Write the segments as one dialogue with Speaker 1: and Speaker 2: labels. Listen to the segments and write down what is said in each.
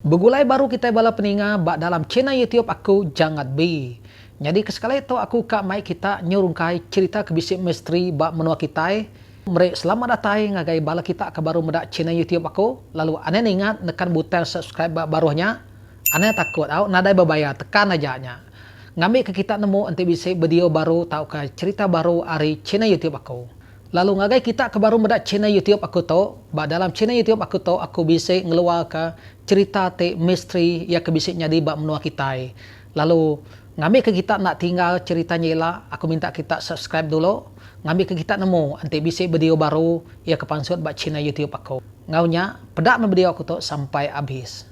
Speaker 1: Begulai baru kitai bala peninga ba dalam channel youtube aku Jangat Bi. Nyadi ke sekali tu aku ka mai kita nyurungkai cherita ke bisi misteri ba menua kitai. Meri selamat datai ngagai bala kita ke baru meda channel youtube aku lalu anang ningat nekan butang subscribe ba baruh nya. Anang takut au nadai bebayar tekan aja nya. Ngambi ke kita nemu enti bisi bedio baru tauka cherita baru ari channel youtube aku. Lalu ngagai kita ke baru meda channel YouTube aku tu, ba dalam channel YouTube aku tu aku bisi ngeluarka cherita ti misteri iya ke bisi nyadi ba menua kitai. Lalu ngambika kita enda tinggal cherita nya ila, aku minta kita subscribe dulu ngambika kita nemu enti bisi video baru iya ke pansut ba channel YouTube aku. Enggau nya, peda meh video aku tu sampai abis.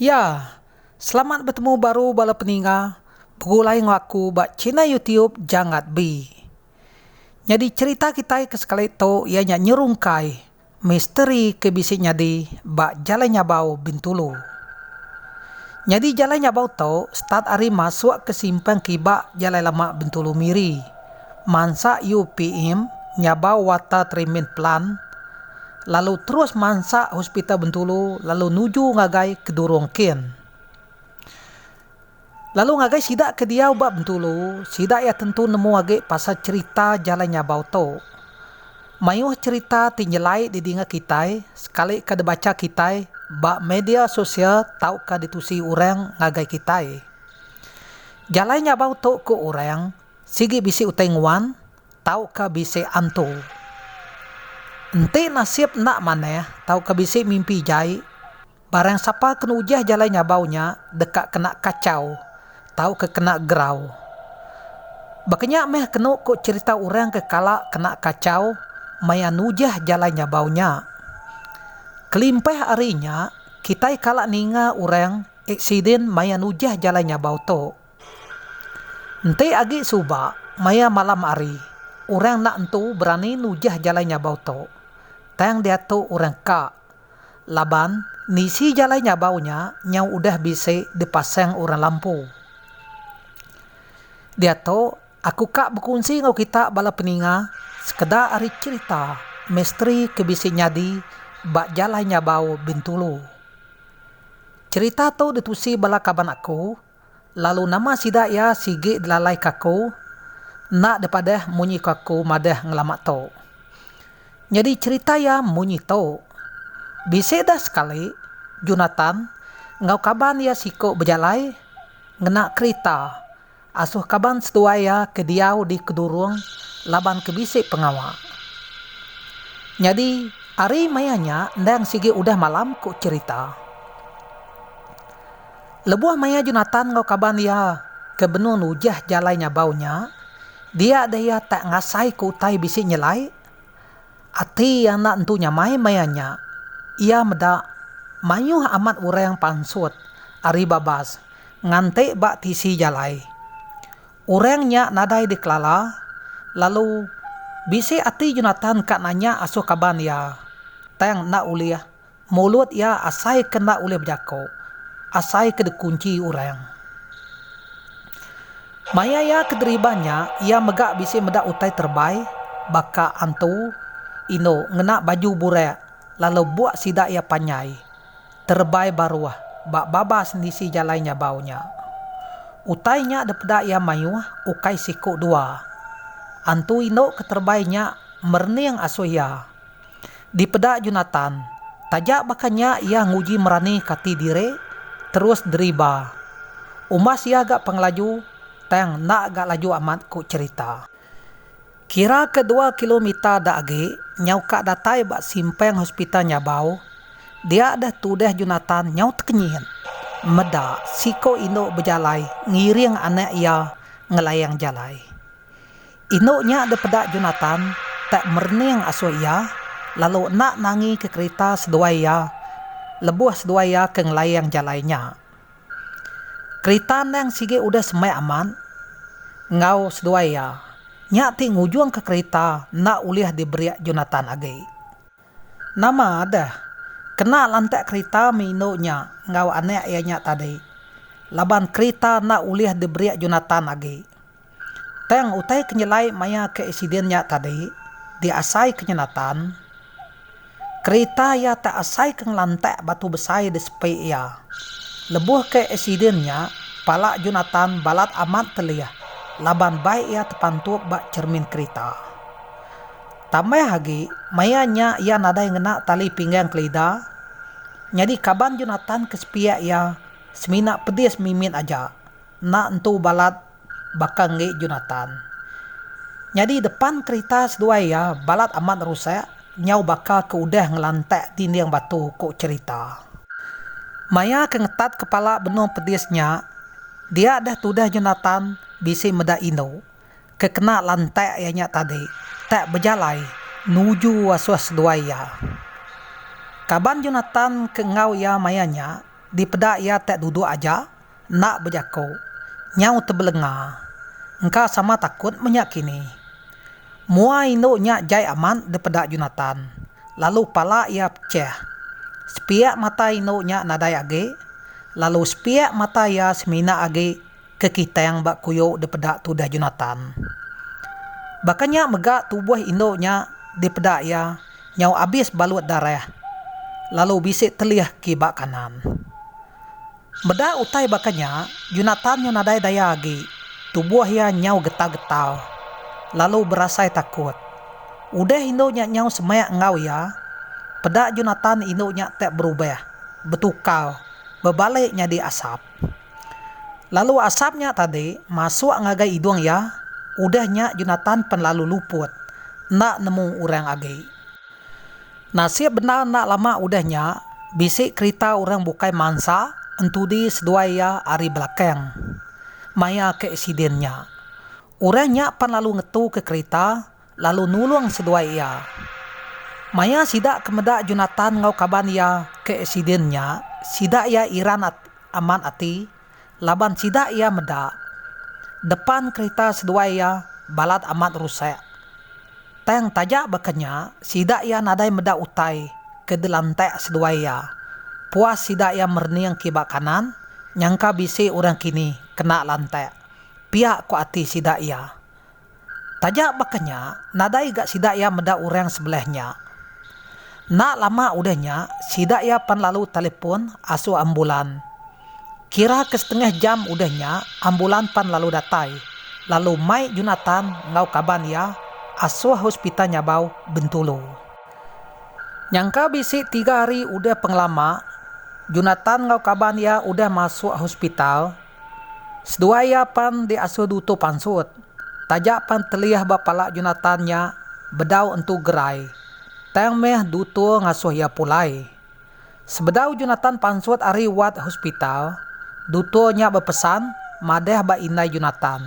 Speaker 1: Ya, selamat betemu baru bala peninga begulai enggau aku ba channel YouTube Janggat Bi. Nyadi cherita kitai ke sekali tu iya nya nyerungkai misteri ke bisi nyadi ba Jalai Nyabau Bintulu. Nyadi Jalai Nyabau tu start ari masuk ke simpang kiba Jalai Lama Bintulu Miri. mansa UPM nyabau Water Treatment Plant lalu terus mansa Hospital Bentulu lalu nuju ngagai Kedurong Kin. Lalu ngagai sida ke diau ba Bentulu, sida iya tentu nemu agi pasal cherita jalai nyabau tu. Mayuh cherita ti nyelai didinga kitai sekalika dibacha kitai ba media sosial tauka ditusi orang ngagai kitai. Jalai nyabau tu ku orang Sigi bisi utai nguan tauka bisi antu. Enti nasib enda manah tauka bisi mimpi jai, barang sapa ke nujah jalai nyabau nya deka kena kachau tauka kena gerau. Baka nya meh kenu ku cherita orang ke kala kena kachau maya nujah jalai nyabau nya. Kelimpah ari nya, kitai kala ninga orang aksiden maya nujah jalai nyabau tu. Enti agi suba maya malam hari, orang enda entu berani nujah jalai nyabau tu, tang diatu orang ka laban nisi jalai nyabau nya nyau udah bisi dipasang orang lampu. Diatu aku ka bekunsi enggau kita bala peninga sekeda ari cherita misteri ke bisi nyadi ba jalai nyabau Bintulu. Cherita tu ditusi bala kaban aku. Lalu nama sida iya sigi delalaika aku? Enda dipadah munyi ko aku madah ngelama tu. Nyadi cherita iya munyi tu. Bisi dah sekali, Jonathan enggau kaban iya siku bejalai ngena kerita asuh kaban seduai iya ke diau di Kedurung laban ke bisi pengawa. Nyadi ari maya nya endang sigi udah malam, ku cherita. Lebuh maya Jonatan enggau kaban iya ke benung nujah jalai nyabau nya, dia deh iya tak ngasaika utai bisi nyelai? Ati iya enda entu nyamai maya nya. Iya meda mayuh amat orang pansut ari babas nganti ba tisi jalai. Orang nya nadai dikelala, lalu bisi ati Jonatan ka nanya asuh kaban iya, tang enda ulih. Mulut iya asai ke enda ulih bejako, asai ke dikunchi orang. Maya iya ke deriban nya, iya mega bisi meda utai terebai, baka antu, indu ngena baju burak lalu buk sida iya panjai, terebai baruh ba babas nisi jalai nyabau nya. Utai nya dipeda iya mayuh ukai siku dua. Antu indu ke terebai nya merening asuh iya. Dipeda Jonatan, taja baka nya iya nguji merani kati diri terus deriba. Umbas iya ga pengelaju tang enda ga laju amat ku cherita. Kira ke dua kilometer da agi nyau ka datai ba simpang hospital Nyabau, dia deh tudah Jonatan nyau tekenyit meda siko indu bejalai ngiring anak iya ngelayang jalai. Indu nya dipeda Jonatan tak merening asui iya, lalu enda nangi ke kerita seduai iya lebuh seduai iya ke ngelaing jalai nya. Kerita endang sigi udah semai amat enggau seduai iya, nya ti ngujungka kerita enda ulih diberik Jonatan agi. Nama deh, kena lantak kerita meh indu nya enggau anak iya nya tadi laban kerita enda ulih diberik Jonathan agi. Tang utai ke nyelai maya ke aksiden nya tadi diasaika Jonathan, kerita iya tak asaika ngelantak batu besai di sepi iya. Lebuh ke aksiden nya, pala Jonathan balat amat telih laban bai iya tepantup ba chermin kerita. Tambah agi, maya nya iya nadai ngena tali pinggang kelida, nyadi kaban Jonatan ke sepiak iya semina pedis mimit aja. Enda entu balat baka enggi Jonatan. Nyadi depan kerita seduai iya balat amat rusak nyau baka ke udah ngelantak dinding batu, ku cherita. Maya ke ngetat kepala benung pedis nya, dia deh tudah Jonatan bisi meda indu. ke kena lantak iya nya tadi tak bejalai nuju asuh seduai iya. Kaban Jonatan ke enggau iya maya nya dipeda iya tak duduk aja enda bejaku, nyau tebelenga. Engka sama takut menya kini. Mua indu nya jai amat dipeda Jonatan, lalu pala iya pechah. Sepiak mata indu nya nadai agi, lalu sepiak mata iya semina agi. ke kitang ba kuyu dipeda tudah Jonatan. Baka nya mega tubuh indu nya dipeda iya nyau abis balut darah lalu bisi telih ke ba kanan. Meda utai baka nya, Jonatan nyau nadai daya agi, tubuh iya nyau getal-getal lalu berasai takut. Udah indu nya nyau semak enggau iya, peda Jonatan indu nya tak berubah, betukar, bebalik nyadi asap. Lalu asap nya tadi masuk ngagai idung iya, udah nya Jonatan pen lalu luput, enda nemu orang agi. Nasib bendar enda lama udah nya, bisi kerita orang bukai mansa entudi seduai iya ari belakang, maya ke aksiden nya. Orang nya pen lalu ngetuka kerita, lalu nulung seduai iya. Maya sida ke meda Jonatan enggau kaban iya ke aksiden nya, sida iya iran amat ati laban sida iya meda depan kerita seduai iya balat amat rusak. Tang taja baka nya, sida iya nadai meda utai ke dilantak seduai iya. Puas sida iya merening kiba kanan, nyangka bisi orang kini kena lantak, pia ku ati sida iya. Taja baka nya, nadai ga sida iya meda orang sebelah nya. Enda lama udah nya, sida iya pan lalu telefon asu ambulan. Kira ke setengah jam udah nya, ambulan pan lalu datai, lalu mai Junatan enggau kaban iya asoh Hospital Nyabau, Bentulu. Nyangka bisi tiga hari udah pengelama, Junatan enggau kaban iya udah masuk hospital. Seduai iya pan diasuh dutu pansut. Taja pan teliah ba pala Jonathan nya bedau Entu Gerai, tang meh dutu ngasuh iya pulai. Sebedau Jonathan pansut ari wad hospital, dutu nya bepesan madah ba indai Jonathan,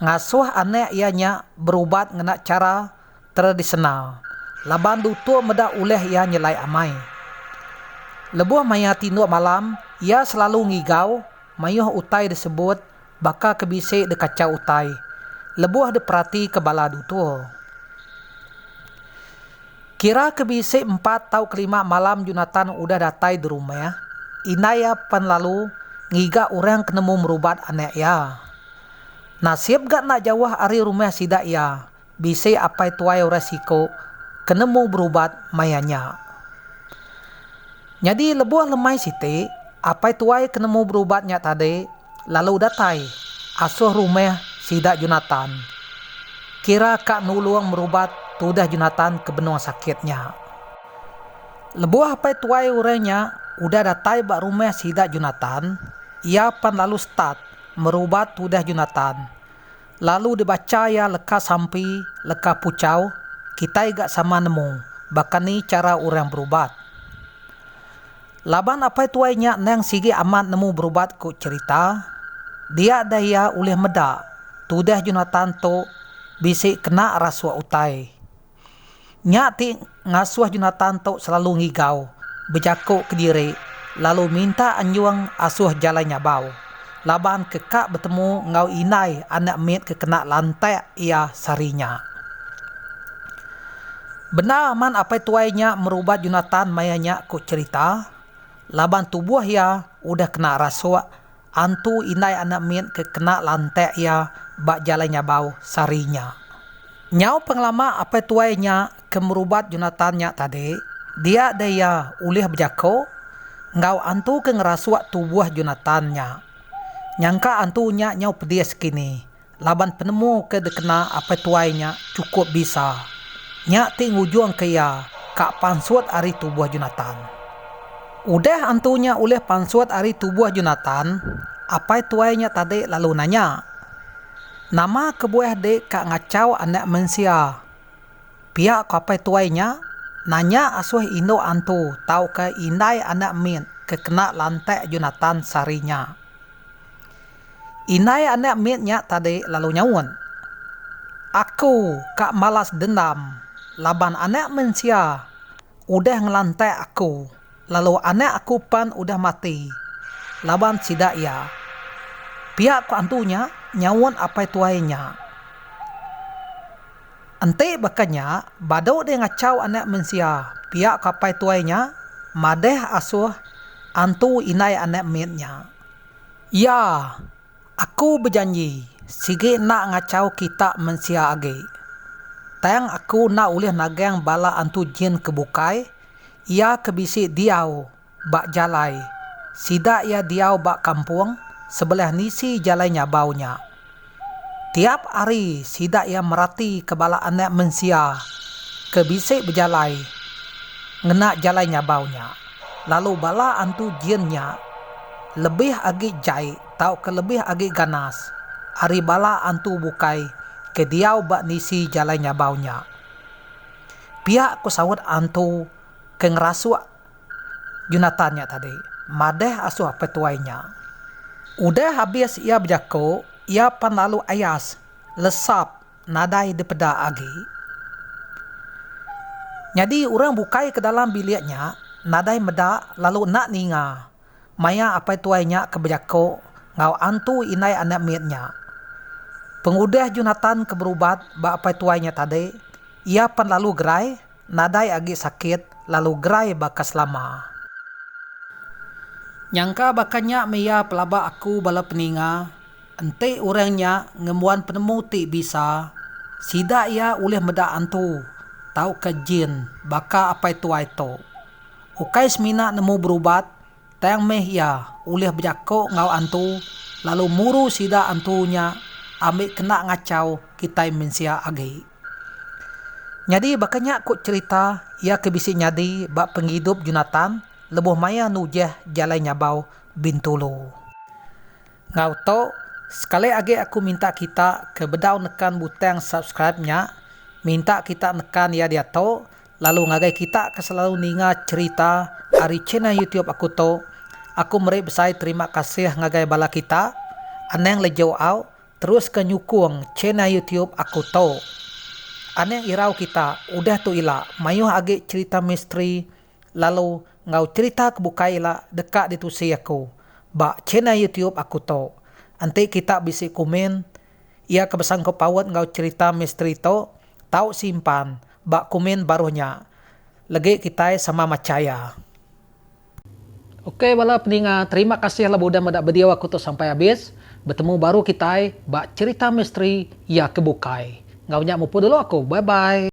Speaker 1: ngasuh anak iya nya berubat ngena chara tradisional laban dutur meda ulih iya nyelai amai. Lebuh maya tinduk malam, iya selalu ngigau mayuh utai disebut baka ke bisi dikachau utai lebuh diperatika bala dutur. Kira ke bisi empat tau kelima malam Junatan udah datai di rumah, indai iya pan lalu ngiga orang ke nemu merubat anak iya. Nasib ga enda jauh ari rumah sida iya Bisi apai tuai orang siku ke nemu berubat maya nya. Nyadi lebuh lemai siti, apai tuai ke nemu berubat nya tadi lalu datai asoh rumah sida Jonathan kira ka nulung merubat tudah Jonathan ke benung sakit nya. Lebuh apai tuai orang nya udah datai ba rumah sida Jonathan, iya pan lalu start merubat tudah Jonathan. Lalu dibacha iya leka sampi, leka puchau, kitai ga sama nemu baka ni chara orang berubat. Laban apai tuai nya endang sigi amat nemu berubat ku cherita, dia deh iya ulih meda tudah Jonathan tu bisi kena rasuk utai. Nya ti ngasuh Jonatan tu selalu ngigau, bejaku kediri, lalu minta anjung asuh jalai nyabau, laban ke ka betemu enggau indai anak mit ke kena lantak iya sehari nya. Bendar amat apai tuai nya merubat Jonatan maya nya ku cherita, laban tubuh iya udah kena rasuk Antu indai anak mit ke kena lantak iya ba jalai nyabau sehari nya. Nyau pengelama apai tuai nya ke merubat Jonathan nya tadi, dia deh iya ulih bejako enggau antu ke ngerasuk tubuh Jonathan nya. Nyangka antu nya nyau pedis kini. laban penemu ke dikena apai tuai nya chukup bisa. Nya ti ngujungka iya ka pansut ari tubuh Jonatan. Udah antu nya ulih pansut ari tubuh Jonatan, apai tuai nya tadi lalu nanya, Nama kebuah di ka ngachau Anak Mensia? Pia ko apai tuai nya, Nanya asuh indu antu tauka indai anak mit ke kena lantak Jonatan sehari nya. Indai anak mit nya tadi lalu nyaut, Aku ka malas dendam laban Anak Mensia udah ngelantak aku lalu anak aku pan udah mati laban sida iya. Pia ku antu nya, nyaut apai tuai nya. Enti baka nya, badu deh ngachau Anak Mensia, pia ku apai tuai nya madah asuh antu indai anak mit nya. Iya, Aku bejanji, sigi enda ngachau kita mensia agi. Tang Aku enda ulih nagang bala antu jin ke bukai, iya ke bisi diau ba jalai sida iya diau ba kampung sebelah nisi Jalai Nyabau nya. Tiap hari sida iya meratika bala Anak Mensia ke bisi bejalai ngena jalai nyabau nya, lalu bala antu jin nya lebih agi jai tauka lebih agi ganas ari bala antu bukai ke diau ba nisi jalai nyabau nya. Pia ku saut antu ke ngerasuk Jonathan nya tadi madah asuh apai tuai nya. Udah abis iya bejako, iya pan lalu ayas lesap nadai dipeda agi. Nyadi urang bukai ke dalam bilik nya nadai meda lalu enda ninga. Maya apai tuai nya ke bejako enggau antu indai anak mit nya, pengudah Jonathan ke berubat ba apai tuai nya tadi, iya pan lalu gerai, nadai agi sakit lalu gerai baka selama. Nyangka baka nya meh iya pelaba aku bala peninga, enti orang nya ngembuan penemu ti bisa, sida iya ulih meda antu tauka jin baka apai tuai tu, Ukai semina nemu berubat, tang meh iya ulih bejako enggau antu lalu muru sida antu nya ambi kena ngachau kitai mensia agi. Nyadi baka nya ku cherita iya ke bisi nyadi ba pengidup Jonathan lebuh maya nujah Jalai Nyabau Bintulu. Enggau tu, sekali agi aku minta kita ke bedau nekan butang subscribe nya, minta kita nekan iya diatu Lalu ngagai kita ke selalu ninga cherita ari channel youtube aku tu, aku meri besai terima kasih ngagai bala kita, anang lejo au teruska nyukung channel youtube aku tu. Anang irau kita udah tu ila maioh agi cherita misteri lalu enggau cherita ke bukai ila deka ditusi aku ba channel youtube aku tu. Enti kita bisi kumin ia ke besangkut paut enggau cherita misteri tu tau simpan Ba kumin baruh nya. Legi kitai sama machaya. Ok bala peninga terima kasih labu udah meda video aku tu sampai abis, betemu baru kitai ba cerita misteri iya ke bukai. Enggau nya mupur dulu aku bye bye.